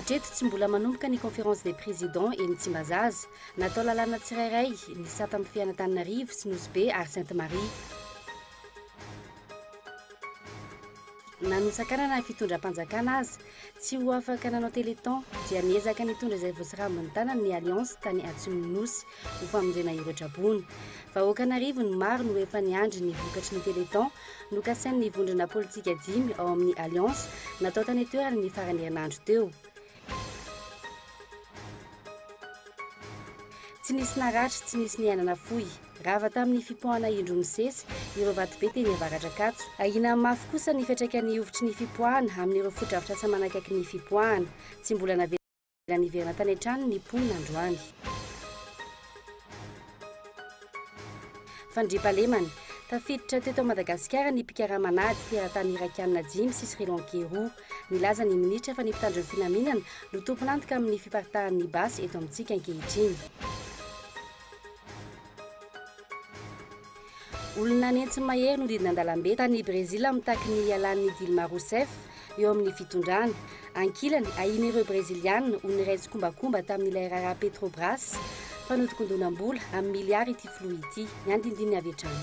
Hatreto tsy mbola manomboka ny conférence des présidents eny Tsimbazaza. Natao lalàna tsirairay ny sata amin'ny fiain'Antananarivo sy Nosy Be ary Sainte Marie. Na nosakanana ny fitondram-panjakana aza, Tsy ho afaka nanao téléthon dia niezaka nitondra izay voasarambin'ny tanany ny Alliance tany Atsimon'ny Nosy ho famonjena ireo traboina. Vahoaka an'arivony maro no efa niandry ny vokatry ny téléthon nokasain'ny vondrona politika dimy ao amin'ny Alliance natao tany an-toerana ny faran'ny herinandro teo. Tsy nisy naratra, tsy nisy niainana fohy. Rava tamin'ny fipoahana indro misesy ireo vatobe teny Avaradrakajo. Ahiana mafy kosa ny fiantraikan'ny hovitry ny fipoahana amin'ireo fotodrafitrasa manakaiky ny fipoahana. Tsy mbola navela niverina tany an-tranony ny mponina androany. Fandriampahalemana, Tafiditra teto Madagasikara ny mpikarama an'ady teratany Irakiana dimy sy Sri Lankey roa. Nilaza ny Minitra fa ny mpitandro ny filaminana no tompon'antoka amin'ny fiparitahan'ny basy eto amintsika ankehitriny. Olona nentsy mahery no didina an-dalambe tany Brezila mitaky ny hialan'i Dilma Rousseff eo amin'ny fitondrana. Ankilany, ahian'ireo Breziliana ho niray tsikombakomba tamin'ilay raharaha Petrobras fanodikondonam-bola amin'ny miliara ity filoha ity. Ny andinindininy avy hatrany.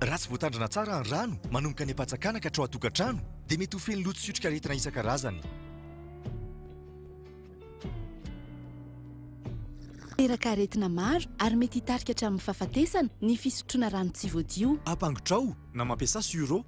Raha tsy voatandrina tsara ny rano manomboka any am-pantsakana ka hatrao an-tokantrano, dia mety ho feno loto sy otrikaretina isan-karazany. Teraka aretina maro ary mety hitarika hatramin'ny fahafatesana ny fisotroana rano tsy voadio. Ampangotrao na mampiasa sur'eau.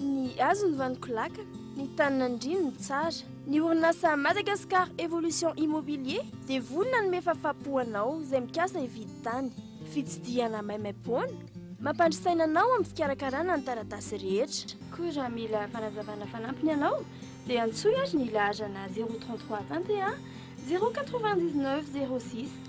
Ny hazo ny vaniko lakana, ny tany nandriany ny tsara. Ny orinasa Madagascar Evolution Immobilier dia vory nanome fafapo ho anao izay mikasa hividy tany. Fitsidihana maimaimpoana, mampandry saina anao amin'ny fikarakarana ny taratasy rehetra. Koa raha mila fanazavana fanampiny ianao dia antsoy ary ny laharana 033 Tantehà 099 06.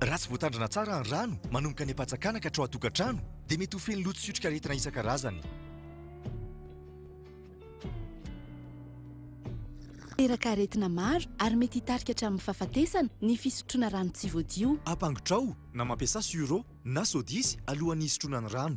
Raha tsy voatandrina tsara ny rano manomboka any am-pantsakana ka hatrao an-tokantrano dia mety ho feno loto sy otrikaretina isan-karazany. Miteraka aretina maro ary mety hitarika hatramin'ny fahafatesana ny fisotroana rano tsy voadio. Ampangotrao na mampiasa sur'eau na sodisy alohan'ny hisotroana ny rano.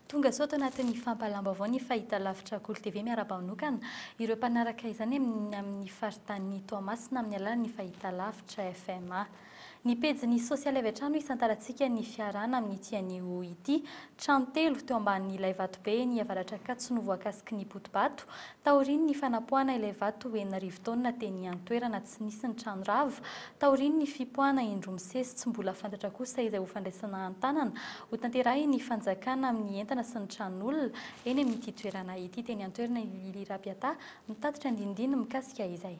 Tonga sao tao anatin'ny fampahalam-baovao ny fahitalavitra Akoly TV miara-banokana ireo mpanaraka izany amin'ny amin'ny faritanin'i Toamasina amin'ny alalan'ny fahitalavitra FMA. Ny pejiny sosialy avy hatrany no isantarantsika ny fiarahana amin'ity anio ity. Trano telo teo ambanin'ilay vatobe eny Avaratr'Ankatso no voakasiky ny poti-bato Taorian' ny fanapoahana ilay vato enina arivo taonina teny an-toerana tsy nisy ny trano rava, taorian' ny fipoahana indroa misesy tsy mbola fantatra kosa izay ho fandraisana an-tanana ho tanterahin' ny fanjakana amin' ny entana sy ny tranon' olona eny amin' ity toerana ity teny an-toerana i Lily Rabiata mitatitra ny dinidinika mikasika izay.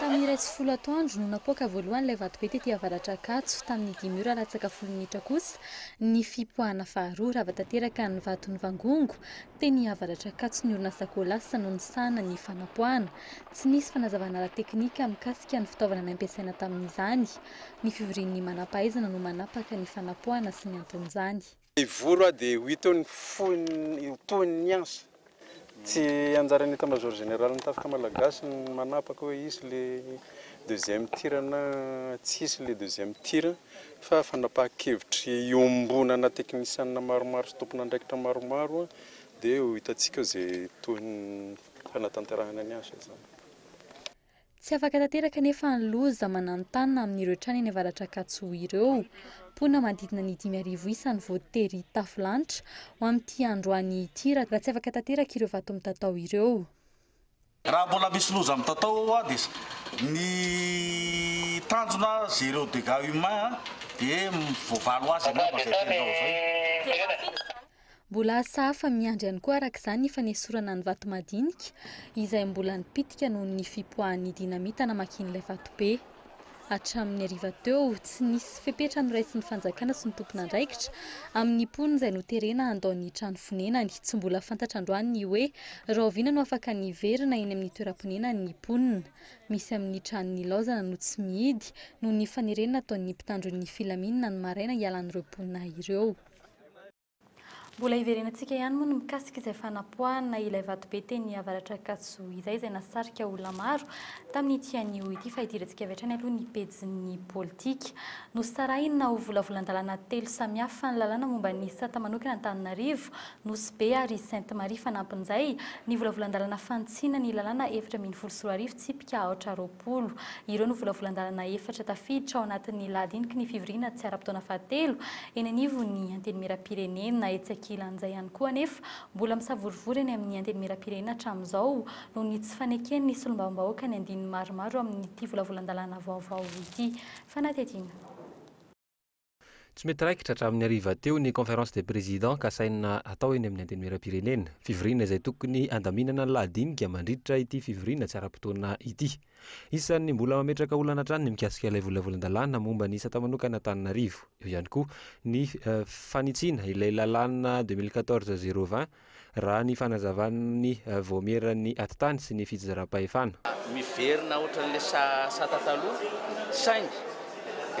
Tamin'ny iray sy folo atoandro no napoaka voalohany ilay vatobe tety avaratra Ankatso. Tamin'ny dimy ora latsaka folo minitra kosa ny fipoahana faharoa. Rava tanteraka ny vato nivangongo teny avaratra Ankatso ny orinasa Colas no nisahana ny fanapoahana. Tsy nisy fanazavana ara-teknika mikasika ny fitaovana nampiasaina tamin'izany. Ny fivorian'ny manam-pahaizana no manapaka ny fanapoahana sy ny anton'izany. Hivory aho dia ho hita eo ny foiny ho tohiny ny ansa. Tsy anjaran'ny Etat-major Generalin'ny Tafika Malagasy ny manapaka hoe hisy ilay deuxième tir na tsy hisy ilay deuxième tir fa fanapahan-kevitry iombonana teknisianina maromaro sy tompon'andraikitra maromaro dia ho hitantsika eo izay tohin'ny fanatanterahana ny asa izany. Tsy afaka tanteraka anefa ny loza mananontanona amin'ireo trano eny Avaratr'Ankatso ireo. Mponina manodidina ny dimy arivo isa no voatery hitafo lanitra ho amin'ity androany ity raha tsy afaka tanteraka ireo vato mitatao ireo. Raha mbola misy loza mitatao ao dia ny tanjona zero dégâts humains dia voavaly ho azy angamba izay fenitra ao izay. Mbola asa hafa miandry ihany koa araka izany ny fanesorana ny vato madinika izay mbola nipitika noho ny fipoahan'ny dinamita namakian'ilay vatobe. Hatramin'ny hariva teo, tsy nisy fepetra noraisin'ny fanjakana sy ny tompon'andraikitra amin'ny mponina izay noterena handao ny trano fonenany. Tsy mbola fantatra androany ny hoe rahoviana no afaka ny hiverina eny amin'ny toeram-ponenany ny mponina. Misy amin'ny trano nilaozana no tsy mihidy noho ny fanerena nataon'ny mpitandro ny filaminana ny maraina hialan'ireo mponina ireo. Mbola hiverenantsika ihany moa ny mikasika izay fanapoahana ilay vatobe teny Avaratra Ankatso izay, izay nahasarika olona maro tamin'ity anio ity. Fa idirantsika avy hatrany aloha ny pejin'ny politika. Nosarahina ho volavolan-dalàna telo samihafa ny lalàna momba ny sata manokana Antananarivo, Nosy Be ary Sainte Marie. Fanampin'izay, ny volavolan-dalàna fanintsiana ny lalàna efatra ambin'ny folo sy roa arivo tsipika aotra roapolo. Polo. Ireo no volavolan-dalana efatra tafiditra ao anatin'ny lahadiniky ny fivoriana tsy ara-potoana fahatelo eny anivon'ny Antenimierampirenena. Etsy ankilan'izay ihany koa anefa, mbola misavorovoro eny amin'ny Antenimierampirenena hatramin'izao noho ny tsy faneken'ny solombavambahoaka ny andininy maromaro amin'ity volavolan-dalàna vaovao ity. Fanadihadiana. Tsy mety raikitra hatramin'ny hariva teo ny Conférence des Présidents kasaina hatao eny amin'ny Antenimieram-pirenena. Fivoriana izay tokony handaminana ny lahadinika mandritra ity fivoriana tsy ara-potoana ity. Isan'ny mbola mametraka olana hatrany ny mikasika ilay volavolan-dalàna momba ny sata manokana Antananarivo. Eo ihany koa ny fanitsiana ilay lalàna deux mille quatorze zéro vingt raha ny fanazavan'ny Vaomieran'ny Atitany sy ny Fijeram-pahefana. Miverina ohatran'ilay sata taloha, saingy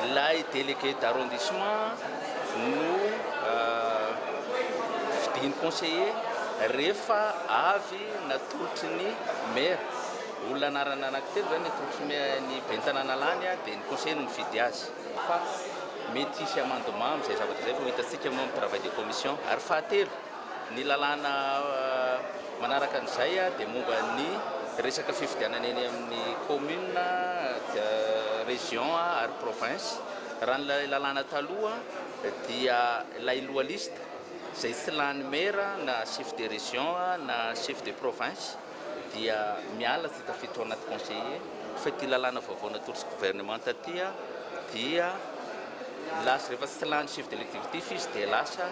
ilay délégué d'arrondissement no fidiny conseiller rehefa avy natolotry ny maire. Olona anarana anankitelo izany ny atolotry ny ny ben'ny tanàna lany dia ny conseiller no mifidy azy. Fa mety hisy amendement amin'izay zavatra izay fa ho hitantsika moa amin'ny travail de commission. Ary fahatelo, Ny lalàna manaraka an'izay dia momba ny resaka fifidianana eny amin'ny commune, région ary province. Raha ny lalàna taloha dia ilay loha liste izay tsy lany maire na chef de région na chef de province. dia miala sy tafiditra ao anaty conseiller fa ity lalàna vaovao natolotry ny gouvernemanta ity dia lasa rehefa tsy lany chef de lectivitif izy dia lasa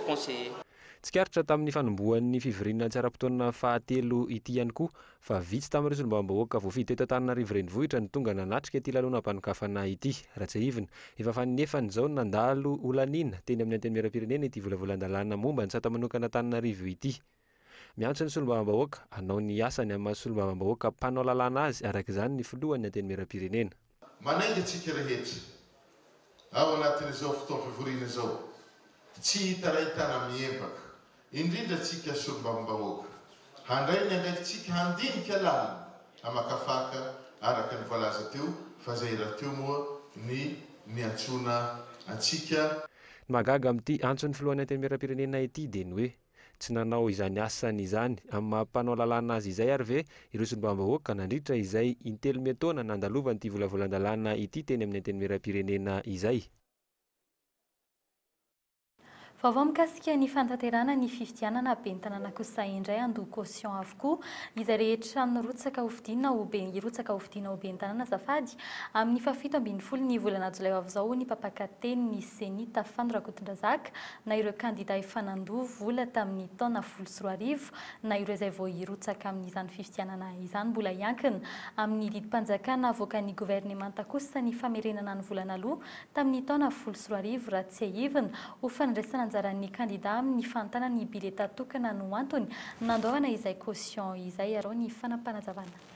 conseiller. Tsikaritra tamin'ny fanombohan'ny fivoriana tsy ara-potoana fahatelo ity ihany koa fa vitsy tamin'ireo solombavambahoaka voafidy teto Antananarivo Renivohitra no tonga nanatrika ity lanonam-panokafana ity. Raha tsiahivina, efa fanenefany izao no nandalo ho laniana teny amin'ny Antenimierampirenena ity volavolan-dalàna momba ny sata manokana Antananarivo ity. Miantso ny solombavambahoaka hanao ny asany amin'ny maha solombavambahoaka mpanao lalàna azy araka izany ny filohan'ny Antenimierampirenena. Manainga antsika rehetra, ao anatin'izao fotoam-pivoriana izao, tsy hitarain-tana mihempaka, indrindra antsika solombavambahoaka, handray ny andraikitsika handinika lalina, hamakafaka araka ny voalaza teo fa izay rahateo moa ny niantsoana antsika. Ny mahagaga amin'ity antson'ny filohan'ny Antenimierampirenena ity dia ny hoe. Tsy nanao izany asany izany amin'ny maha mpanao lalàna azy izay ary ve ireo solombavambahoaka nandritra izay intelo miantaona nandalovan'ity volavolan-dalàna ity teny amin'ny Antenimierampirenena izay? Vaovao mikasika ny fanatanterahana ny fifidianana ben'ny tanàna kosa indray handoa caution avokoa izay rehetra nirotsaka hofidiana ho be hirotsaka hofidiana ho ben'ny tanàna azafady amin'ny fahafito ambin'ny folo ny volana jolay ho avy izao hoy ny mpampaka teny ny Ceni Tafano Rakotondrazaka na ireo kandida efa nandoa vola tamin'ny taona folo sy roa arivo na ireo izay vao hirotsaka amin'izany fifidianana izany mbola hiankina amin'ny didim-panjakana avoakan'ny governemanta kosa ny famerenana ny vola naloa tamin'ny taona folo sy roa arivo raha tsiahivina ho fandraisana anjaran'ny kandida amin'ny fanontana ny bileta tokana no antony nandoavana izay caution izay arao ny fanapanazavana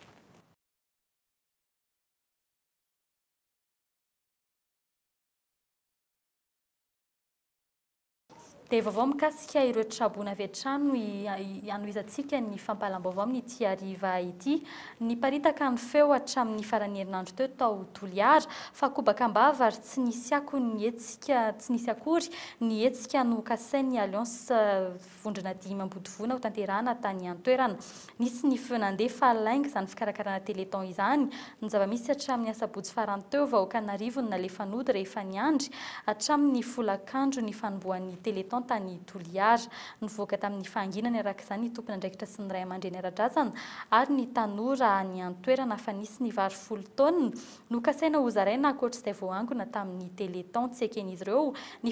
Dia vaovao mikasika ireo traboina avy hatrany no hanohizantsika ny fampahalam-baovao amin'ity hariva ity. Niparitaka ny feo hatramin'ny faran'ny herinandro teo tao Toliara fa kobaka am-bava ary tsy nisy akony ny hetsika, tsy nisy akory ny hetsika nokasain'ny Alliance Vondrona dimy mampodivoana ho tanterahana tany an-toerana. Nisy ny feo nandeha fa lainga izany fikarakarana Téléthon izany. Ny zava-misy, hatramin'ny asabotsy farany teo, vahoaka an'arivony no nalefa nody rehefa niandry hatramin'ny folakandro ny fanombohan'ny Téléthon tany Toliara. Nivoaka tamin'ny fahanginany araka izany ny tompon'andraikitra sy ny raiamandreny ara-drazana ary ny tanora any an-toerana fa nisy ny vary folo taonina Nokasaina hozaraina ankoatr'izay voaangona tamin'ny Téléthon tsy eken'izy ireo ny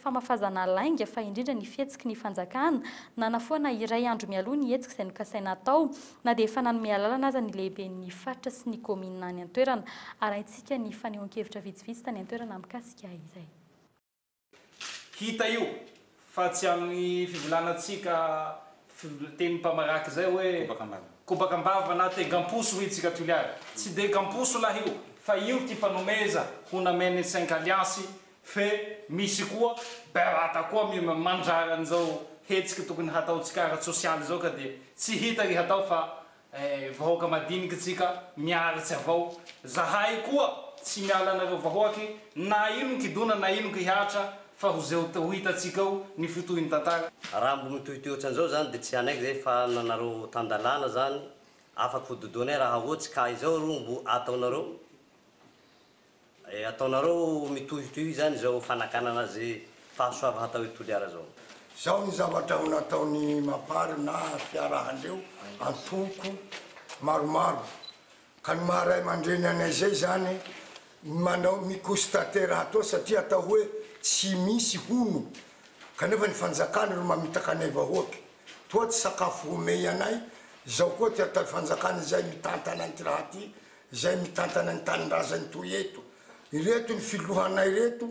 famafazana lainga fa indrindra ny fihetsiky ny fanjakana nanafoana iray andro mialoha ny hetsika izay nokasaina hatao na dia efa nanome alalana aza ny lehiben'ny faritra sy ny kaominina any an-toerana. Arahintsika ny fanehoan-kevitra vitsivitsy tany an-toerana mikasika izay. Hita io fa tsy amin'ny fivolanantsika tenim-pamaraka izay hoe kobaka am-bava na tegam-poso hoy isika Toliara. Tsy degam-poso lahy io fa io ty fanomeza ho namen'ny cinq alliance fe misy koa berata koa mandrara an'izao hetsiky tokony hataontsika ara-tsosialy izao ka dia tsy hita ry hatao fa Eh vahoaka madiniky tsika miaritsy avao zahay koa tsy miala anareo vahoaky na ino kidona na ino kihatra fa ho zeo ho hitatsika eo ny fotohiny tantara. Raha mbo mitohitohy otran'izao zany de tsy hanaiky zay fa nanareo tan-dalàna zany afaka ho dodoinay raha ohatsy ka izao ro mbo ataonareo Ataonareo mitohitohy izany izao fanakanana azy fahasoavan hatao i Toliara izao. Izao ny zavatra ho nataon'i Mapar na fiarahandreo antoko maromaro ka ny maha ray mandreny anay zay zany ny manao mi constater raha atao satria atao hoe tsy misy hono kanefa ny fanjakana ro mamitaka anay vahoaka toa tsy sakafo homey anay izao koa ty ataoy fanjakana izay mitantana anty raha ty izay mitantana ny tanindrazany toy eto ireto ny filohanay reto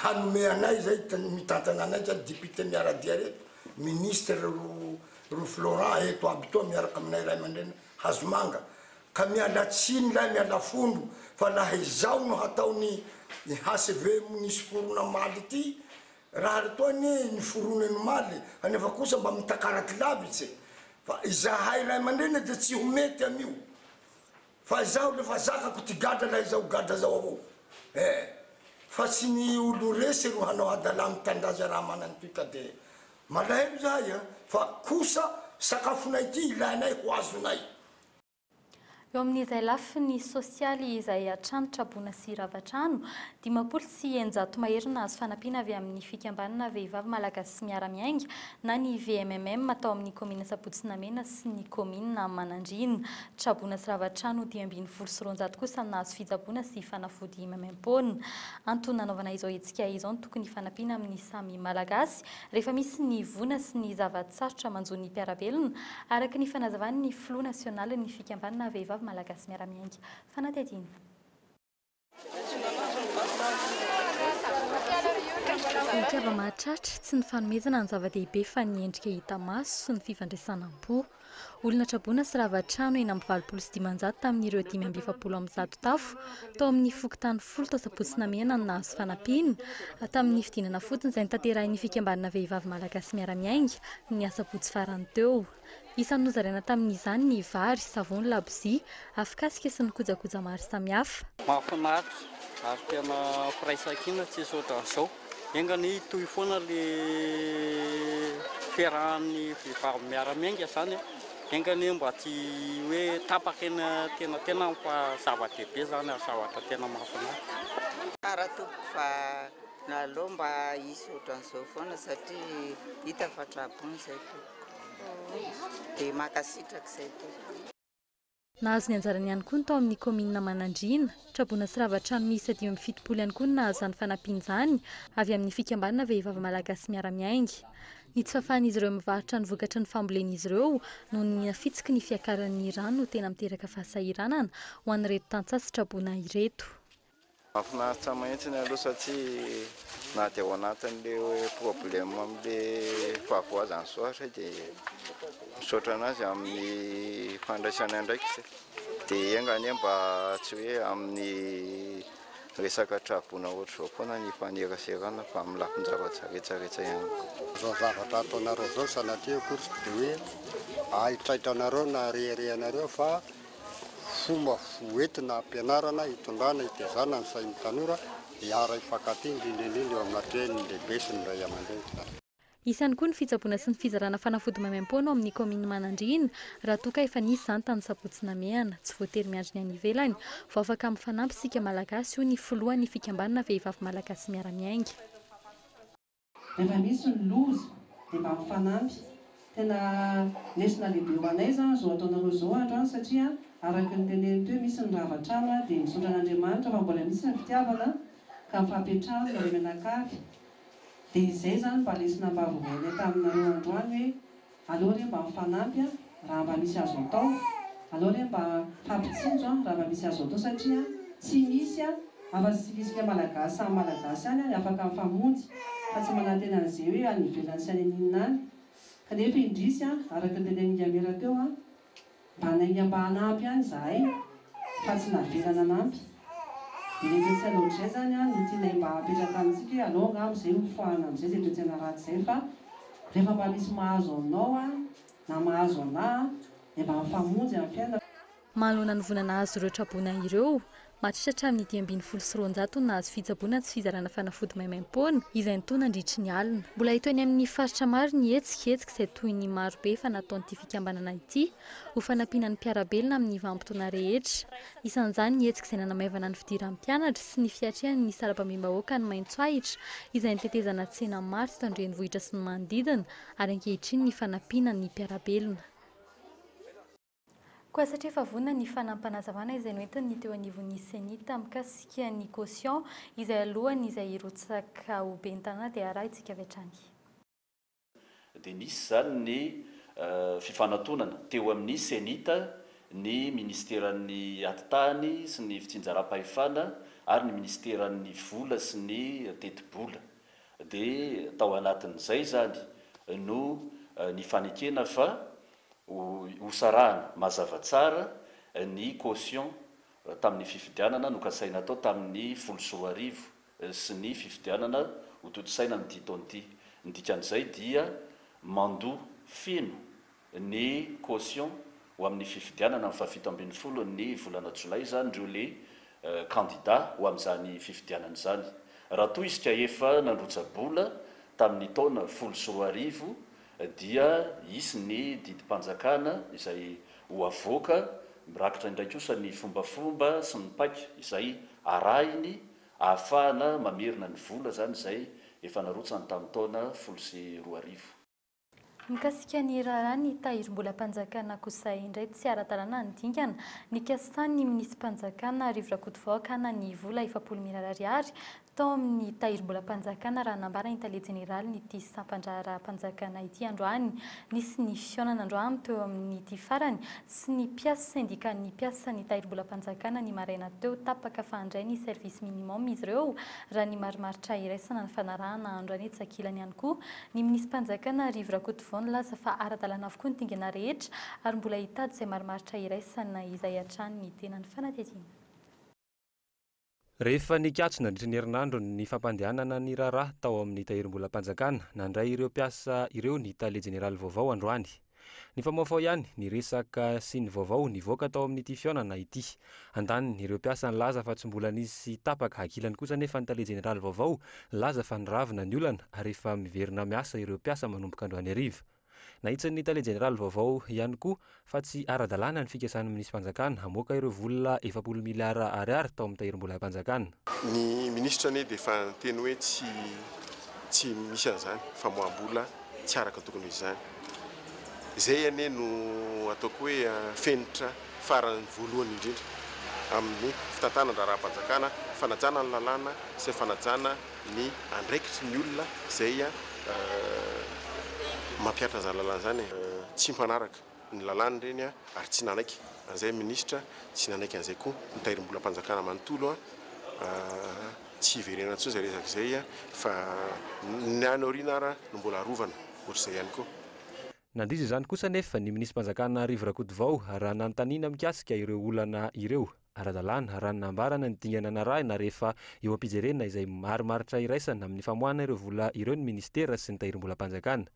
hanome anay izay mitantana anay zany député miaradia reto ministre ro ro florent eto aby toa miaraka aminay ray aman-dreniny hazomanga ka miala tsiny lahy miala fondro fa laha izao no hataony ny hcv nisy forona maly ity raha ry toa anie ny forony no maly anefa kosa mba mitakaraty lavitse fa izahay ray aman-dreniny dia tsy ho mety an'io Fa izaho refa zakako ty gadra na iza ho gadra zao avao eh! Fa tsy ny olo resy ro hanao hadalà mitandaza raha manany toy ka de malahelo zahay eh! Fa kosa sakafonay ty ilainay ho azonay. Eo amin'izay lafiny sosialy izay hatrany traboina sy rava trano, dimampolo sy eninjato mahery no nahazo fanampiana avy amin'ny Fikambanana Vehivavy Malagasy Miara-Miainga na ny VMMM tao amin'ny Kaominina Sabotsy Namena sy ny Kaominina Manandriana. Tsaboina sy rava trano dimy ambin'ny folo sy roanjato kosa no nahazo fitsaboana sy fanafody maimaim-poana. Antony nanaovana izao hetsika izao ny tokony hifanampiana amin'ny samy Malagasy rehefa misy ny voina sy ny zava-tsarotra manjo ny mpiara-belona, araka ny fanazavan'ny filoha nasionalin'ny fikambanana vehivavy malagasy miara-miainga fanadihadiana. Ny mpihavana mahatratra, tsy ny fanomezana ny zava-dehibe fa ny endrika hita maso sy ny fifandraisana am-po. Olona traboina sy rava trano enina amby valopolo sy dimanjato tamin'ireo dimy amby efapolo amby zato tafo tao amin'ny fokontany folo tao Sabotsy Namehana no nahazo fanampiana tamin'ny fidinana fotony izay notanterahin'ny fikambanana vehivavy malagasy miara-miainga ny asabotsy farany teo. Isan'ny nozaraina tamin'izany ny vary, savony, labozia, afokasika sy ny kojakoja maro samihafa. Mahafinaritra ary tena firaisankina tsisy ohatran'izao. Enga anie hitohy foana le fiarahan'ny vehivavy miara-miainga zany e! Enga anie mba tsy hoe tapaka eny an-tenantenany fa zava-dehibe zany ary zavatra tena mahafinaritra. Tsara tompoko fa aleo mba hisy ohatran'izao foana satria hita fa tra-bon izay tompoko. Dia mankasitraka izay tompoko. Nahazo ny anjarany ihany koa ny tao amin'ny kaominina Manandriana. Traboina sy rava trano miisa dimy amby fitopolo ihany koa no nahazo izany fanampiana izany avy amin'ny fikambanana vehivavy malagasy miara-miainga. Ny tsy fahafahan'izy ireo mivarotra ny vokatry ny fambolen'izy ireo noho ny nafitsiky ny fiakaran'ny rano no tena miteraka fahasahiranana ho an'ireto tantsaha sy traboina ireto. Mahafinaritra mahitsiny aloha satria na dia ao anatin'ilay hoe problème amin'ilay fahavoazan'ny sôatra dia misaotra an'azy amin'ny fandraisany andraikitra dia enga anie mba tsy hoe amin'ny resaka traboina ohatr'izao foana ny ifaneraserana fa amin'ny lafin-javatra rehetra rehetra ihany koa. Izao zavatra ataonareo izao sanatria akory tsy dia hoe ahitraitra anareo na arehareha anareo fa Fomba hoentina hampianarana, hitondrana, hitezana ny sain'ny tanora hiara hifankatia, indrindra indrindra eo amina teniny lehibe sy ny ray aman-dreny. Isany koa ny fitsaboana sy ny fizarana fanafody maimaim-poana ao amin'ny kaominina Manandriana, raha toa ka efa nisy izany tamin'ny sabotsy namehana. Tsy voatery miandry ny any ivelany vao afaka mifanampy isika Malagasy, hoy ny filohan'ny fikambanana Vehivavy Malagasy Miara-Miainga. Rehefa misy ny loza dia mba mifanampy. Tena lesona lehibe ho anay izany izao ataonareo izao andro any satria araka ny teneniny teo misy ny rava trano dia misaotra an'Andriamanitra fa mbola misy ny fitiavana ka mifampiantrano nareo mianakavy dia izay izany mba lesona mba avorainay taminareo andro any hoe Aleo re mba mifanampy a raha mba misy azo atao, aleo re mba fampitsinjo a raha mba misy azo atao satria tsy misy a, afa-tsy tsikitsiky Malagasy samy Malagasy ihany any afaka mifamonjy fa tsy manantena an'izay hoe any ivelany sy any aninona any, kanefa indrisy a araka ny tenenin'i Yamira teo a mba nainga mba hanampy ihany izahay fa tsy navela nanampy dia ilay toetsaina ohatrizay izany an no tianay mba hapetraka amintsika hoe aleo angamba izay ho foahana amin'izay izay toetsaina ratsy izay fa rehefa mba misy mahazo anao an na mahazo anah an dia mba mifamonjy amin'ny fiainana. Manoloana ny voina nahazo ireo traboina ireo, Maharitra hatramin'ny dimy ambin'ny folo sy roanjato no nahazo fitsaboana sy fizarana fanafody maimaimpoana, izay nitohy nandritry ny alina. Mbola hita eny amin'ny faritra maro ny hetsika, hetsika izay toy ny marobe efa nataon'ity fikambanana ity, ho fanampiana ny mpiara-belona amin'ny vanim-potoana rehetra. Isan'izany ny hetsika izay nanamaivana ny fidiran'ny mpianatra sy ny fiatrehany ny sarababem-bahoaka any Maintsoahitra, izay nitetezana tsena maro teto an-drenivohitra sy ny manodidina, ary ankehitriny ny fanampiana ny mpiara-belona. Koa satria efa vonona ny fanampanazavan aizay noentiny ny teo anivon'ny Cenit mikasika ny caution izay alohan izay hirotsaka ho Ben'ny tanàna dia arahintsika avy hatrany. Dia nisy izany ny fifanatonana teo amin'ny Cenit, ny minisiteran'ny Atitany sy ny fitsinjaram-pahefana ary ny minisiteran'ny Vola sy ny tetibola. Dia tao anatin'izay izany no nifanekena fa hosarahana mazava tsara ny caution tamin'ny fifidianana nokasaina hatao tamin'ny folo sy roa arivo sy ny fifidianana hotontosaina amin'ity taona ity. Ny dikan'izay dia mandoa feno ny caution ho amin'ny fifidianana ny fahafito ambin'ny folon'ny volana jolay izany ireo le kandida ho amin'izany fifidianana izany. Raha toa izy ka efa nandrotsa-bola tamin'ny taona folo sy roa arivo dia hisy ny didim-panjakana izay ho avoaka, mirakitra indray kosa ny fombafomba sy ny paika izay arahiny ahafahana mamerina ny vola izany izay efa narotsany tamin'ny taona folo sy roa arivo. Mikasika ny raharaha ny tahirim-bolam-panjakana kosa indray tsy ara-dalàna ny dingana nikasan'ny minisi-panjakana Rivo Rakotovao hakana ny vola efapolo mirary ariary Tao amin'ny Tahirimbolam-panjakana raha nambara ny Tale Jeneralin'ity sampan-draharaham-panjakana ity androany. Nisy ny fihaonana androany teo amin'ity farany sy ny mpias sendikan'ny mpiasan'ny Tahirimbolam-panjakana ny maraina teo. Tapaka fa handray ny service minimum izy ireo raha ny marimaritra iraisana ny fanarahana andro any Tsakilany ihany koa ny minisi-panjakana Rivo Rakotovao nilaza fa ara-dalàna avokoa ny dingana rehetra ary mbola hitady izay marimaritra iraisana izay hatrany ny tena ny fanadihadiana. Rehefa nikatso nandritra ny herinandro ny fampandehanana ny raharaha tao amin'ny Tahirimbolam-panjakana, nandray ireo mpiasa ireo ny Tale Jeneraly vaovao androany. Nifamohafoha ihany ny resaka sy ny vaovao nivoaka tao amin'ity fihaonana ity. Andaniny, ireo mpiasa nilaza fa tsy mbola nisy tapaka. Ankilany kosa anefa ny Tale Jeneraly vaovao nilaza fa niravina ny olana ary efa miverina miasa ireo mpiasa manomboka androany hariva. Nahitsin'ny tale jeneraly vaovao ihany koa fa tsy ara-dalàna ny fikasan'ny minisi-panjakana hamoaka ireo vola efapolo miliara Ariary tao amin'ny tahirim-bolam-panjakana. Ny minisitra anie dia efa niteny hoe tsy tsy misy an'izany famoaham-bola tsy araka ny tokony ho izy izany. Izay anie no ataoko hoe fenitra farany voalohany indrindra amin'ny fitantanan-draharaham-panjakana, fanajana ny lalàna sy ny fanajana ny andraikitry ny olona izay mampihatra an'izany lalàna izany e! Tsy mpanaraka ny lalàna ireny ary tsy nanaiky an'izay ny minisitra, tsy nanaiky an'izay koa ny tahirimbolam-panjakana manontolo. Tsy hiverena intsony izay resaka izay fa ny any aoriana ary no mbola arovana ohatr'izay ihany koa. Nandiso izany kosa anefa ny minisitrim-panjakana Rivo Rakotovao raha nanontaniana mikasika ireo olana ireo. ara-dalàna, raha ny nambarany ny dingana narahina rehefa eo am-pijerena izay marimaritra iraisana amin'ny famoahana ireo vola ireo ny minisitera sy ny tahirim-bolam-panjakana.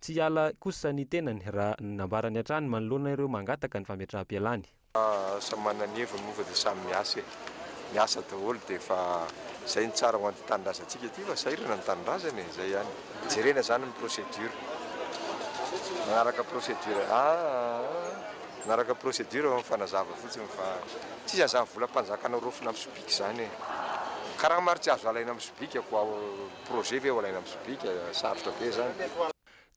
Tsy hiala kosa ny tenany raha ny nambarany hatrany manoloana ireo mangataka ny fametraham-pialany. Samy manana ny heviny moa fa dia samy miasa e! Miasa daholo dia efa izay no tsara ho an'ity tanindrazantsika ity fa sahirana ny tanindrazana e! Izay ihany. Jerena izany ny procédure. Manaraka procédure. Aa! Nanaraka procedure aho mifanazava fotsiny fa tsy izy an'izany volam-panjaka noraofina amin'ny sobika izany e! Karama ary tsy azo alaina amin'ny sobika koa aho, projet ve ho alaina amin'ny sobika? Sarotra be izany.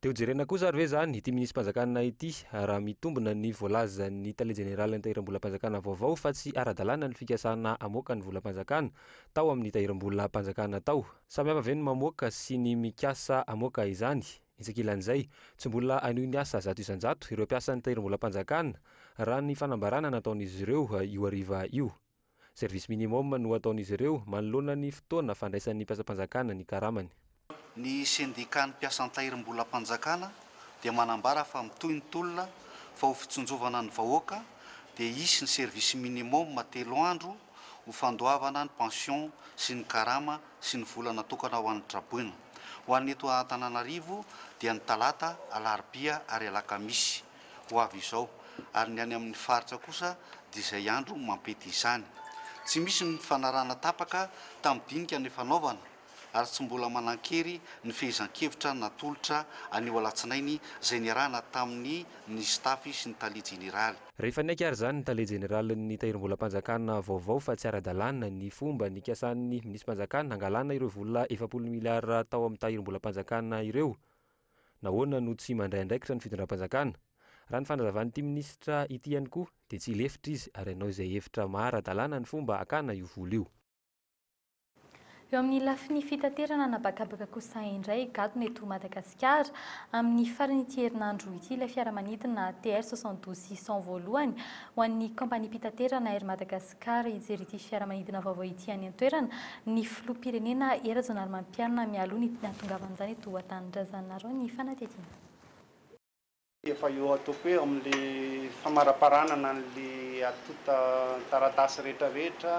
Dia ho jerena kosa ary ve izany ity minisi-panjakana ity raha mitombina ny voalazan'ny tale jeneralin'ny tahiram-bolam-panjakana vaovao fa tsy ara-dalàna ny fikasana hamoaka ny volam-panjakana tao amin'ny tahiram-bolam-panjakana tao? Samy hafa ve ny mamoaka sy ny mikasa hamoaka izany? Etsy ankilan'izay, tsy mbola hanohy ny asa zato isan-jato ireo mpiasan'ny Tahirimbolam-panjakana, raha ny fanambarana nataon'izy ireo io hariva io. Service minimum no ataon'izy ireo manoloana ny fotoana fandraisan'ny mpiasam-panjakana ny karamany. Ny Sendikan'ny mpiasa an-tahirimbolam-panjakana dia manambara fa mitohy ny tolona fa ho fitsinjovana ny vahoaka dia hisy ny service minimum telo andro ho fandoavana ny pension sy ny karama sy ny vola natokana ho an'ny traboina. Ho an'ny eto Antananarivo dia ny talata, alarobia ary alakamisy ho avy izao ary ny any amin'ny faritra kosa dia izay andro mampety izany. Tsy misy ny fifanarahana tapaka tamin'ny dinika nifanaovana ary tsy mbola manan-kery ny fehezan-kevitra natolotra anio alatsinainy izay niarahana tamin'ny ny staff sy ny tale jeneraly. Rehefa niaiky ary izany ny tale jeneralin'ny Tahirimbolam-panjakana vaovao fa tsy ara-dalàna ny fomba nikasan'ny minisi-panjakana hangalana ireo vola efapolo miliara tao amin'ny Tahirimbolam-panjakana ireo, nahoana no tsy mandray andraikitra ny fitondram-panjakana? Raha ny fanazavan'ity minisitra ity ihany koa dia tsy hilefitra izy ary hanao izay hevitra maha ara-dalàna ny fomba hakana io vola io. Eo amin'ny lafiny fitaterana an'habakabaka kosa indray, gadona eto Madagasikara. Amin'ny faran'ity herinandro ity ilay fiaramanidina TR 72 600 voalohany ho an'ny kaompaniam-pitaterana Air Madagascar hijery ity fiaramanidina vaovao ity any an-toerana ny filoham-pirenena Hery Rajaonarimampianina mialoha ny hahatongavan'izany eto an-tanindrazanareo ny fanadihadiana. Efa eo ataoko hoe amin'ilay famaraparanana an'ilay antontan-taratasy rehetrarehetra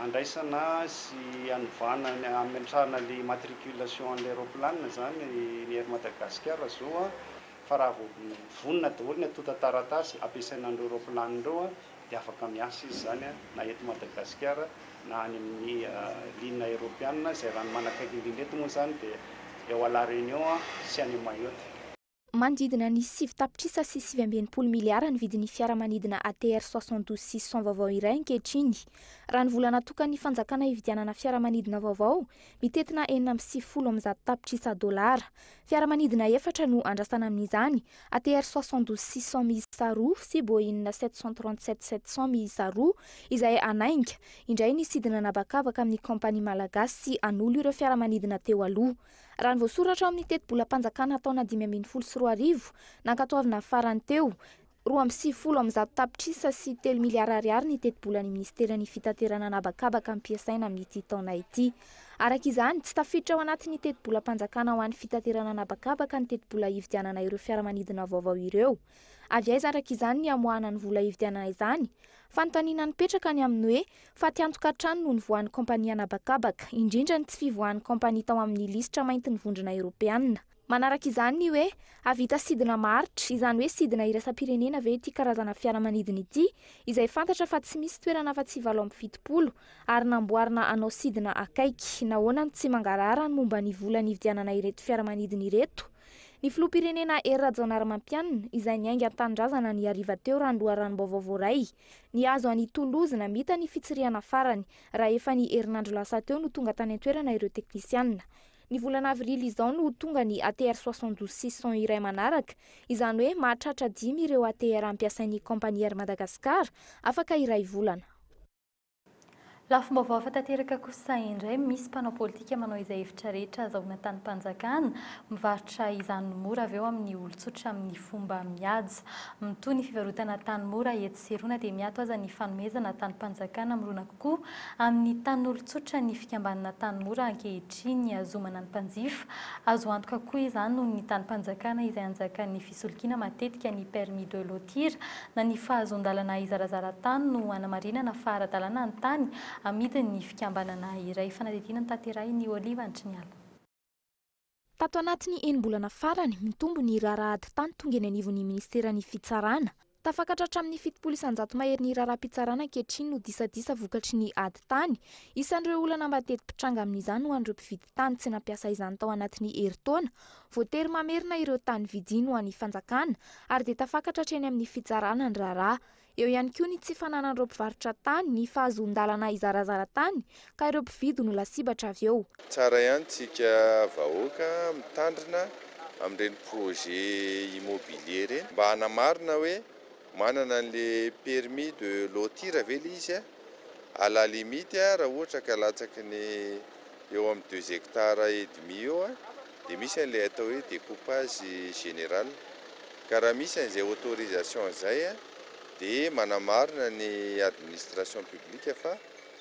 andraisana sy anovana ny hametrahana ilay immatriculation an'ilay raoplanina izany ny Air Madagascar izao fa raha vao vonona daholo ny antontan-taratasy ampiasaina an'ireo raoplanina ireo dia afaka miasa izy izany na eto Madagasikara na any amin'ny ligne aeropianina izay ranomanakaiky indrindra eto moa izany dia eo à la Réunion sy any Mayotte. Manodidina ny sivy tapitrisa sy sivy amby enimpolo miliara ny vidin'ny fiaramanidina ATR 72 six cent vaovao iray ankehitriny. Raha ny vola natokan'ny fanjakana hividianana fiaramanidina vaovao, mitentina enina amby sivifolo amin'ny zato tapitrisa dolara. Fiaramanidina efatra no andrasana amin'izany, ATR 72 six cent miisa roa sy Boeing sept cent trente sept sept cent miisa roa, izay hanainga indray ny sidina an'habakabaka amin'ny kaompania malagasy hanolo ireo fiaramanidina teo aloha. Raha ny voasoratra ao amin'ny tetibolam-panjakana taona dimy ambin'ny folo sy roa arivo nankatoavina farany teo, roa amby sivifolo amin'ny zato tapitrisa sy telo miliara ariary ny tetibolan'ny minisiteran'ny fitaterana an'habakabaka ampiasaina amin'ity taona ity. Araka izany, tsy tafiditra ao anatin'ny tetibolam-panjakana ho an'ny fitaterana an'habakabaka ny tetibola hividianana ireo fiaramanidina vaovao ireo. Avy aiza araka izany ny hamoahana ny vola hividianana izany? Fanontaniana nipetraka ny amin'ny hoe fatiantoka hatrany no nivoahan'ny kaompania an'habakabaka, indrindra ny tsy fivoahan'ny kaompania tao amin'ny lisitra maintin'ny Vondrona Eoropeanina. Manaraka izany ny hoe hahavita sidina maharitra, izany hoe sidina iraisam-pirenena ve ity karazana fiaramanidina ity, izay fantatra fa tsy misy toerana afa-tsy valo amby fitopolo, ary namboarina hanao sidina akaiky. Nahoana no tsy mangarahara ny momba ny vola nividianana ireto fiaramanidina ireto? Ny filoham-pirenena Hery Rajaonarimampianina, izay niainga an-tanindrazana ny hariva teo raha ny loharanom-baovao voaray, nihazo an'i Toulouse namita ny fitsirihana farany raha efa ny herinandro lasa teo no tonga tany an-toerana ireo teknisianina. Ny volana avrily izao no ho tonga ny ATR 72 six cents iray manaraka, izany hoe mahatratra dimy ireo ATR ampiasain'ny kaompania Air Madagascar, afaka iray volana. Lafim-baovao hafa tanteraka kosa indray, misy mpanao politika manao izay hevitra rehetra azahoana tanim-panjakana, mivarotra izany ny mora avy eo amin'ny olon-tsotra amin'ny fomba mihaja. Mitohy ny fivarotana tany mora etsy sy eroana dia miato aza ny fanomezana tanim-panjakana mirona kokoa amin'ny tanin'olon-tsotra ny fikambanana tany mora ankehitriny azomana ny mpanjifa. Azo antoka koa izany noho ny tanim-panjakana izay anjakan'ny Fisolokiana matetika ny permis de lotir na ny fahazoan-dalana hizarazara tany no hanamarinana fa ara-dalàna ny tany amidin'ny fikambanana iray. Fanadihadiana notaterahin'i Olive Antriniala. Tato anatin'ny enim-bolana farany, mitombo ny raharaha ady tany tonga eny anivon'ny minisiteran'ny Fitsarana. Tafakatra hatramin'ny fitopolo isan-jato mahery ny raharaham-pitsarana ankehitriny ho disadisa vokatry ny ady tany. Isan'ireo olana mateti-pitranga amin'izany ho an'ireo mpividy tany tsy nampiasa izany tao anatin'ny herintaona. Voatery mamerina ireo tany vidiny ho an'ny fanjakana ary dia tafakatra hatreny amin'ny fitsarana ny raharaha. Eo ihany koa ny tsy fananan'ireo mpivarotra tany ny fahazoan-dalana hizarazara tany ka ireo mpividy no lasibatra avy eo. Tsara ihany tsika vahoaka mitandrina amin'ireny projet immobilier ireny mba hanamarina hoe manana an'le permis de lotir ve le izy à la limite raha ohatra ka latsaky ny eo amin'ny deux hectares et demi eo dia misy an'ilay atao hoe découpage général ka raha misy an'izay autorisation izay dia manamarina ny administration publique fa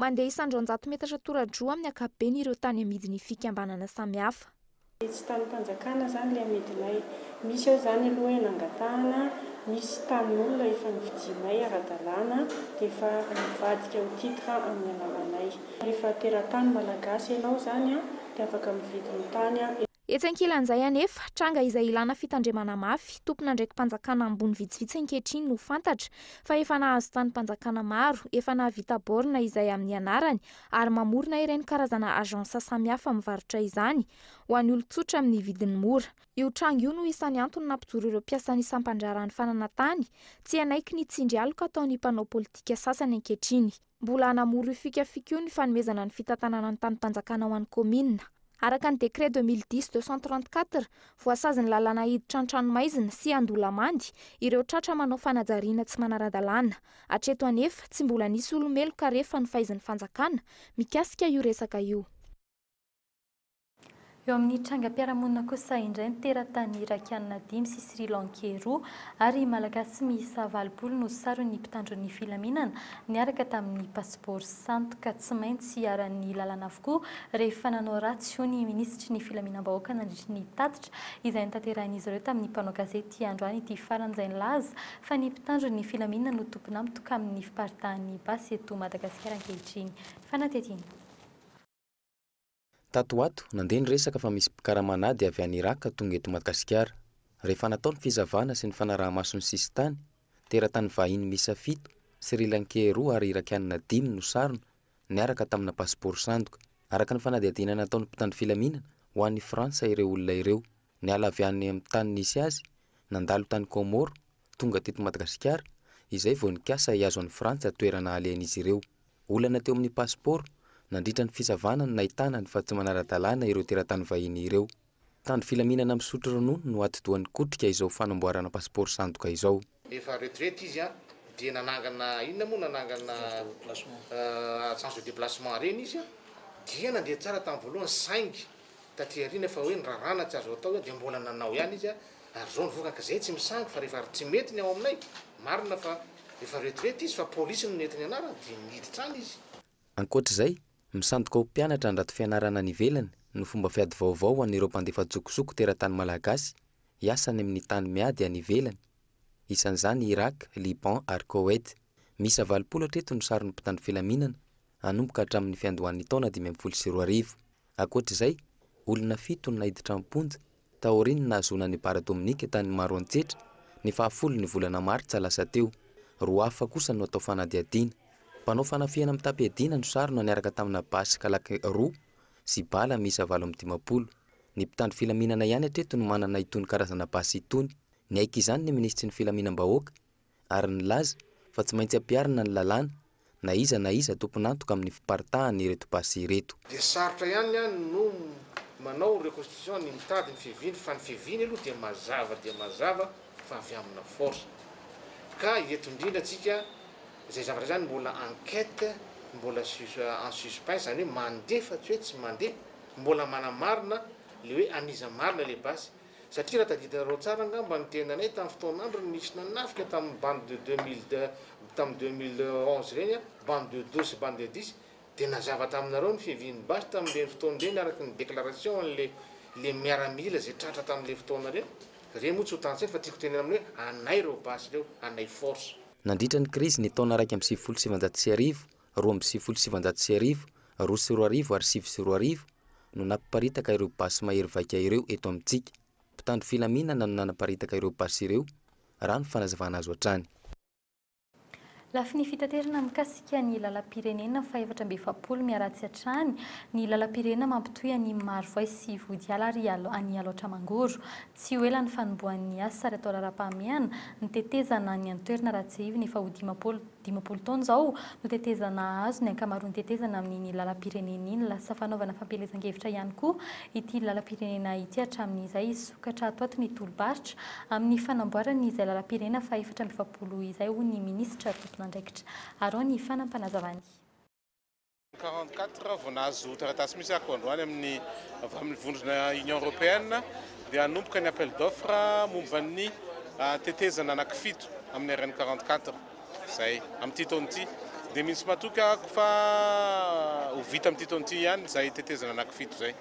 Mandeha isan-dRanjato metatra tora-droa amin'ny ankapobeny ireo tany amidin'ny fikambanana samihafa. Dia tsy tanim-panjakana izany ilay amidinay. Misy ao izany aloha hoe nangatahana, misy tanin'olona efa novidianay ara-dalàna dia efa mivadika ho titre amin'ny alalanay. Rehefa teratany malagasy ianao izany dia afaka mividy ny tany. Etsy ankilan'izay anefa, tranga izay ilàna fitandremana mafy, tompon'andraiki-panjakana ambony vitsivitsy ankehitriny no fantatra fa efa nahazo tanim-panjakana maro, efa nahavita borne izay amin'ny anarany ary mamorona ireny karazana agence samihafa mivarotra izany ho an'ny olon-tsotra amin'ny vidiny mora. Io tranga io no isan'ny antony nampijoro ireo mpiasan'ny sampan-draharahan'ny fananantany, tsy hanaiky ny tsindry aloka ataon'ny mpanao politika sasany ankehitriny. Mbola hanamoro io fikafika io ny fanomezana ny fitantanana ny tanim-panjakana ho an'ny kaominina. Araka ny décret 2010 234, voasazin'ny lalàna hiditra an-tranomaizina sy an-dolamandy ireo tratra manao fanajariana tsy manara-dalàna. Hatreto anefa, tsy mbola nisy olo-meloka re fa nofaizin'ny fanjakana mikasika io resaka io. Eo amin'ny trangam-piarahamonina kosa indray ny teratany Irakiana dimy sy Sri Lankey roa ary Malagasy miisa valopolo no saron'ny mpitandron'ny filaminana niaraka tamin'ny pasipaoro sandoka. Tsy maintsy iharan'ny lalàna avokoa rehefa nanao ratsy, hoy ny minisitry ny filaminam-bahoaka nandritry ny tatitra izay notanterahin'izy ireo tamin'ny mpanao gazety androany ity farany izay nilaza fa ny mpitandron'ny filaminana no tompon'antoka amin'ny fiparitahan'ny basy eto Madagasikara ankehitriny. Fanatetiana. Tato ho ato, nandeha ny resaka fa misy mpikarama an'ady avy any Iràka tonga eto Madagasikara. Rehefa natao ny fizavana sy ny fanaraha-maso ny sisintany, teratany vahiny miisa fito, Sri Lankey roa ary Irakianina dimy no sarona, niaraka tamina pasipaoro sandoka. Araka ny fanadihadiana nataon'ny mpitandro filaminana, ho any Frantsa ireo olona ireo. Niala avy any amin'ny tany nisy azy, nandalo tany Kômôro, tonga teto Madagasikara, izay vao nikasa hihazo an'i Frantsa toerana halehan'izy ireo. Olana teo amin'ny pasipaoro, nandritra ny fisavana no nahitana ny fa tsy manara-dalàna ireo teratany vahiny ireo. Mpitandro filaminana misotro ronono no atidoha nikotrika izao fanamboarana pasipaoro sandoka izao. Efa retraite izy an, dia nanangana inona moa nanangana agence de déplacement ireny izy dia nandeha tsara tamin'ny voalohany saingy taty aoriana fa hoe ny raharaha na tsy azo atao hoe dia mbola nanao ihany izy ary zao ny vokany ka zay tsy misangy fa rehefa tsy mety ny ao aminay marina fa efa retraite izy fa polisy no nety ny anarany dia niditra any izy. Ankoatra izay, misandoka ho mpianatra handrato fianarana any ivelany no fomba fiady vaovao ho an'ireo mpandefa antsokosoko teratany malagasy hiasa any amin'ny tany miady any ivelany. Isan'izany i Irak, Liban ary Koweït. Miisa valopolo hatreto no saron'ny mpitandro filaminana, hanomboka hatramin'ny fiandohan'ny taona dimy ambin'ny folo sy roa arivo. Ankoatra izay, olona fito no naiditra am-ponja, taorian'ny nahazoana an'i Bara Dominika tany Maroantsetra, ny fahafolon'ny volana martsa lasa teo. Roa hafa kosa no atao fanadihadiana. Mpanao fanafihana mitam-piadiana no sarona niaraka tamina basy Kalac roa sy bala miisa valo amby dimampolo. Ny mpitandro filaminana ihany hatreto no manana itony karazana basy itony. Niaiky izany ny minisitry ny Filaminam-bahoaka, ary nilaza fa tsy maintsy ampiharina ny lalàna na iza na iza tompon'antoka amin'ny fiparitahan' ireto basy ireto. Dia sarotra ihany ny ahy no manao reconstitution ny mitady ny fiaviany fa ny fiaviany aloha dia mazava dia mazava fa avy amina force ka eto indrindra tsika izay zavatra izany mbola enquete mbola en suspens izany hoe mandeha fa tsy hoe tsy mandeha mbola manamarina le hoe an'iza marina le basy Satria raha tadidinareo tsara angamba ny tenanay tamin'ny fotoan'androny nisy nanafika tamin'ny bande de 2002 tamin'ny 2011 ireny a, bande de douze sy bande de dix, dia nazava taminareo ny fiavian'ny basy tamin'ireny fotoana ireny araka ny déclaration an'ilay ilay miaramila izay tratra tamin'ilay fotoana ireny. Ireny moa tsy ho tantsaina fa tiako tenena aminareo hoe anay ireo basy ireo, anay force. Nandritra ny krizin'ny taona iraika amby sivifolo sy sivinjato sy arivo, roa amby sivifolo sy sivinjato sy arivo, roa sy roa arivo ary sivy sy roa arivo, no napiparitaka ireo basy mahery vaika ireo eto amintsika. Mpitandro filaminana no nanaparitaka ireo basy ireo, raha ny fanazavana azo hatrany. Lafiny fitaterana mikasika ny lalam-pirenena fahefatra amby efapolo miharatsy hatrany ny lalam-pirenena mampitohy an'i Marovoay sy Ihodiala ary an'i Alaotra Mangoro. Tsy ho ela ny fanombohan'ny asa ary atao raharaham-pahamehana ny tetezana any an-toerana raha tsiahivina efa ho dimampolo Dimampolo taona izao no tetezana hahazo ny ankamaroan'ny tetezana amin'iny lalam-pirenena iny. Lasa fanaovana fampielezan-kevitra ihany koa ity lalam-pirenena ity hatramin'izay hisokatra ato ato ny tolo-barotra amin'ny fanamboarany izay lalam-pirenena fahefatra amby efapolo izay, hoy ny minisitra tompon'andraikitra. Arao ny fanampanazavan'i. Quarante quatre vao nahazo taratasy mihitsy ako androany amin'ny avy amin'ny vondrona Union Européenne dia hanomboka ny appel d'offre momba ny ah, tetezana anankifito amin'ny RN quarante quatre izay amin'ity taona ity dia misy matoky ako fa ho vita amin'ity taona ity ihany izay tetezana anankifito izay.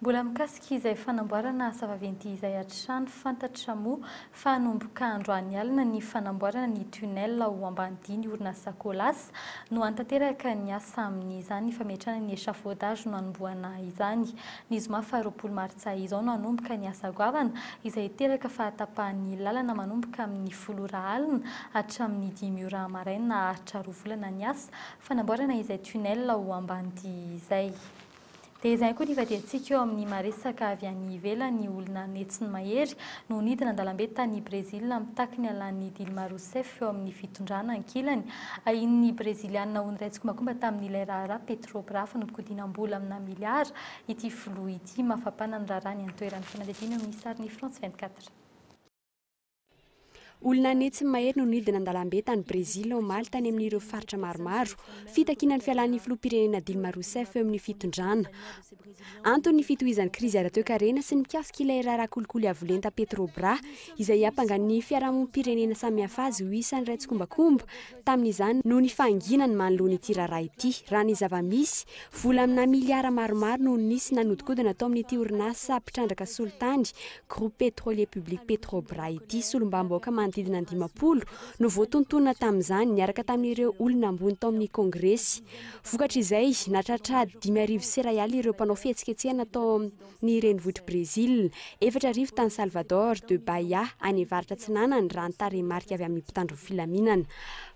Mbola mikasika izay fanamboarana asa vaventy izay hatrany, fantatra moa fa hanomboka androany alina ny fanamboarana ny tunnel ao Ambanidia-ny orinasa Colas no hanatanteraka ny asa amin'izany fametrahana ny échafaudage no hanombohana izany. Ny zoma faha roapolo martsa izao no hanomboka ny asa goavana izay hiteraka fahatapahan'ny lalana manomboka amin'ny folo ora alina hatramin'ny dimy ora maraina haharitra roa volana ny asa fanamboarana izay tunnel ao Ambanidia izay. Dia izany koa ny fadiantsika eo amin'ny maha-resaka avy any ivelany ny olona netsiny mahery no nidina an-dalambe tany Brezila mitaky ny halan'i Dilma Rousseff eo amin'ny fitondrana ankilany. Ahian'ny Breziliana ho niray tsikombakomba tamin'ilay raharaha Petrobras fanodinkodinam-bola amina miliara ity filoha ity. Mafapana ny raharaha ny an-toerana. Fanadihadiana eo amin'ny sarin'i France 24. Olona anie tsy mahery no nidina an-dalambe tany Brezila omaly tany amin'ireo faritra maromaro fitakiana ny fialan'ny filoham-pirenena Dilma Rousseff eo amin'ny fitondrana. Antony ny fitohizan'ny krizy ara-toekarena sy mikasika ilay raharaha kolikoly avo lenta Petrobras izay hiampangan'ny fiarahamonim-pirenena samihafa azy ho isan'ireo tsikombakomba tamin'izany noho ny fahanginany manoloana ity raharaha ity. Raha ny zava-misy, vola aminà miliara maromaro no nisy nanodikodina tao amin'ity orinasa mpitrandraka solitany Groupe Pétrolier Public Petrobras ity. Solombavambahoaka manodidina ny dimampolo no voatontonina tamin'izany, niaraka tamin'ireo olona ambony tao amin'ny Kongresy. Vokatr'izay, nahatratra dimy arivo serayaly ireo mpanao fihetsiketsehana tao ny renivohitr'i Brezila. Efatra arivo tany Salvador de Bahia, any avaratra atsinanana, raha ny tarehimarika avy amin'ny mpitandro ny filaminana.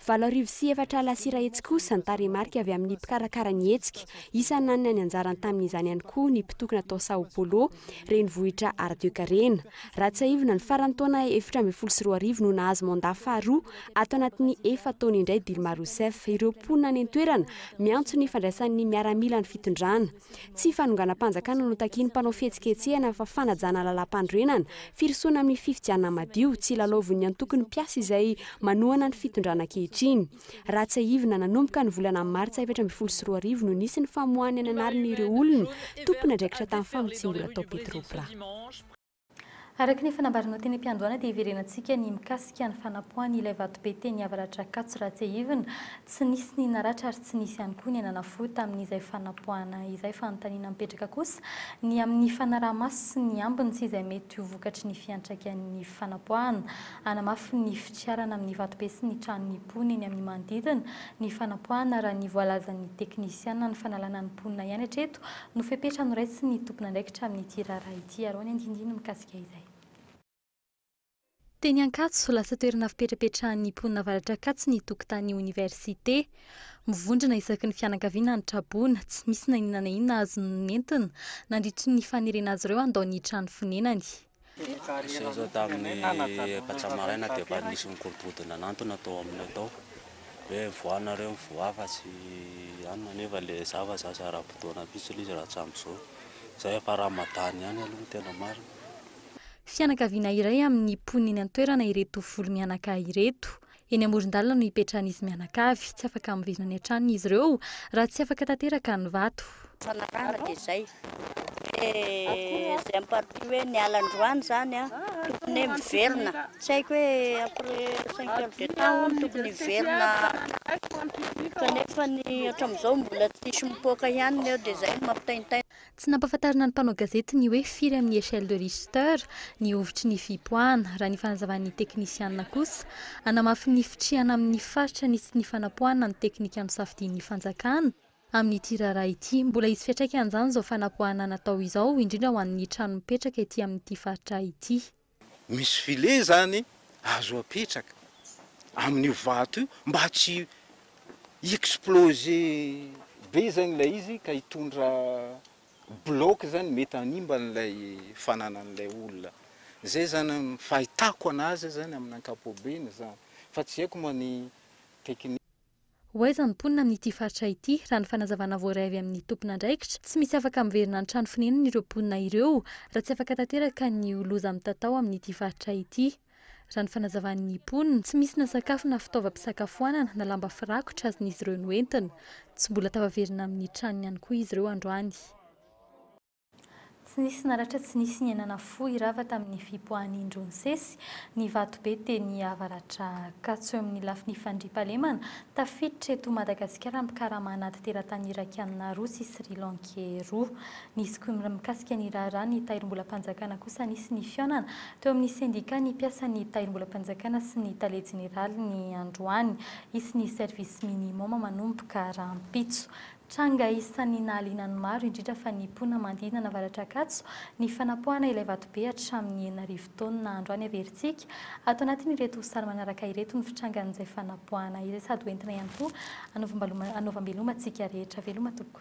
Valo arivo sy efatra alasira hetsy kosa ny tarehimarika avy amin'ny mpikarakara ny hetsika. Isan'ny nanana ny anjarany tamin'izany ihany koa ny mpitokona tao Sao Paulo, renivohitra ara-toekarena. Raha tsiahivina, ny faran'ny taona efatra ambin'ny folo sy roa arivo no nahazo mandat faharoa ato anatin'ny efa-taona indray Dilma Rousseff ireo mponina any an-toerana miantso ny fandraisan'ny miaramila ny fitondrana. Tsy fanonganam-panjakana no takian'ny mpanao fihetsiketsehana fa fanajana lalàmpanorenana, firosoana amin'ny fifidianana madio, tsy lalaovin'ny antoko ny mpiasa izay manohana ny fitondrana ankehitriny. Raha tsiahivina, nanomboka ny volana martsa efatra ambin'ny folo sy roa arivo no nisy ny famoahana ny anarin'ireo olona tompon'andraikitra tamin'ny famotsiam-bola tao Petrobras. Araka ny efa nambaranao teny am-piandohana dia hiverenantsika ny mikasika ny fanapoahany ilay vatobe teny Avaratra Ankatso raha tsiahivina. Tsy nisy ny naratra ary tsy nisy ihany koa ny anana fo tamin'izay fanapoahana izay. Fanontaniana mipetraka kosa ny amin'ny fanaraha-maso sy ny ambiny sy izay mety ho vokatry ny fiantraikan'ny fanapoahana. Hanamafy ny fitrarana amin'ny vatobe sy ny tranon'ny mponina eny amin'ny manodidina ny fanapoahana raha ny voalazan'ny teknisiana ny fanalana ny mponina ihany hatreto No fepetra noraisin' ny tompon'andraikitra amin' ity raharaha ity ary ao ny andinindiny mikasika izay. Teny Ankatso, lasa toerana fipetrapetrahan' ny mponina Avaratra Ankatso ny tokontany ny Oniversite. Mivondrona isaky ny fianakaviana ny tra-boina, tsy misy na inona na inona azony nentina, nandritry ny fanerena azy ireo handao ny trano fonenany. Niseho izao tamin'ny efatra maraina teo fa nisy nikorontokorontony nanantona tao aminay tao hoe mivoaha nareo mivoaha fa tsy anona nefa le za fa za tsy ara-potoana mintsy le izy raha tsy amin'izao. Izao efa Ramadan ihany aloha ny tena marina. Fianakaviana iray amin'ny mponina eny an-toerana ireto volo mianaka ireto. Eny amoron-dalana no ipetrahan'izy mianakavy. Tsy afaka miverina any an-tranony izy ireo raha tsy afaka tanteraka ny vato. Fanarahana dia izay. Dia izay amin'ny partie hoe niala androany izany an, tokony hoe miverina. Tsy haiko hoe après cinq heures de temps hono tokony hiverina hatrany. Kanefa ny hatramin'izao mbola tsisy mipoaka ihany ny eo dia izay no mampitaintaina. Tsy nampahafantarina ny mpanao gazety ny hoe firy amin'ny échelle de Richter ny hovitry ny fihipoahana, raha ny fanazavan'ny teknisianina kosa, hanamafy ny fitrihana amin'ny faritra ny tsy nifanapoahana ny teknika nosafidian'ny fanjakana amin'ity raharaha ity. Mbola hisy fiantraikan'izany izao fanapoahana natao izao, indrindra ho an'ny trano mipetraka ety amin'ity faritra ity. Misy filet izany azo apetraka amin'io vato io mba tsy hi-exploser be izany ilay izy ka hitondra bloc izany mety hanimba an'ilay fananan'ilay olona. Izay izany an, ny fahitako an'azy izany amin'ny ankapobeny izany fa tsy haiko moa ny technique. Ho aiza ny mponina amin'ity faritra ity? Raha ny fanazavana voaray avy amin'ny tompon'andraikitra, tsy misy afaka miverina ny trano fonenan'ireo mponina ireo raha tsy afaka tanteraka ny loza mitatao amin'ity faritra ity. Raha ny fanazavan'ny mponina, tsy misy na sakafo na fitaovam-pisakafoanana na lamba firakotra azon'izy ireo noentina. Tsy mbola tafaverina amin'ny tranony ihany koa izy ireo androany. Tsy nisy naratra tsy nisy niainana fo irava tamin'ny fipoahan'ny indro nisesy ny vatobe teny avaratra Ankatso eo amin'ny lafiny fandriampahalemana. Tafiditra eto Madagasikara mpikarama anaty teratany Irakiana roa sy Sri Lankey roa. Nisy koa ny mikasika ny raharaha ny Tahirimbolam-panjakana kosa nisy ny fihaonana teo amin'ny sendika ny mpiasan'ny Tahirimbolam-panjakana sy ny Tale Jeneraly ny androany. Hisy ny service minimum manomboka rahampitso. Tranga isan'ny nahaliana ny maro, indrindra fa ny mponina manodidina Navaratr'Ankatso, ny fanapoahana ilay vatobe hatramin'ny enina arivo taonina andro any Averintsika. Ato anatin'ireto sary manaraka ireto ny fitrangan'izay fanapoahana izay sady hoentina ihany koa hanaovam-beloma antsika rehetra. Veloma tompoko.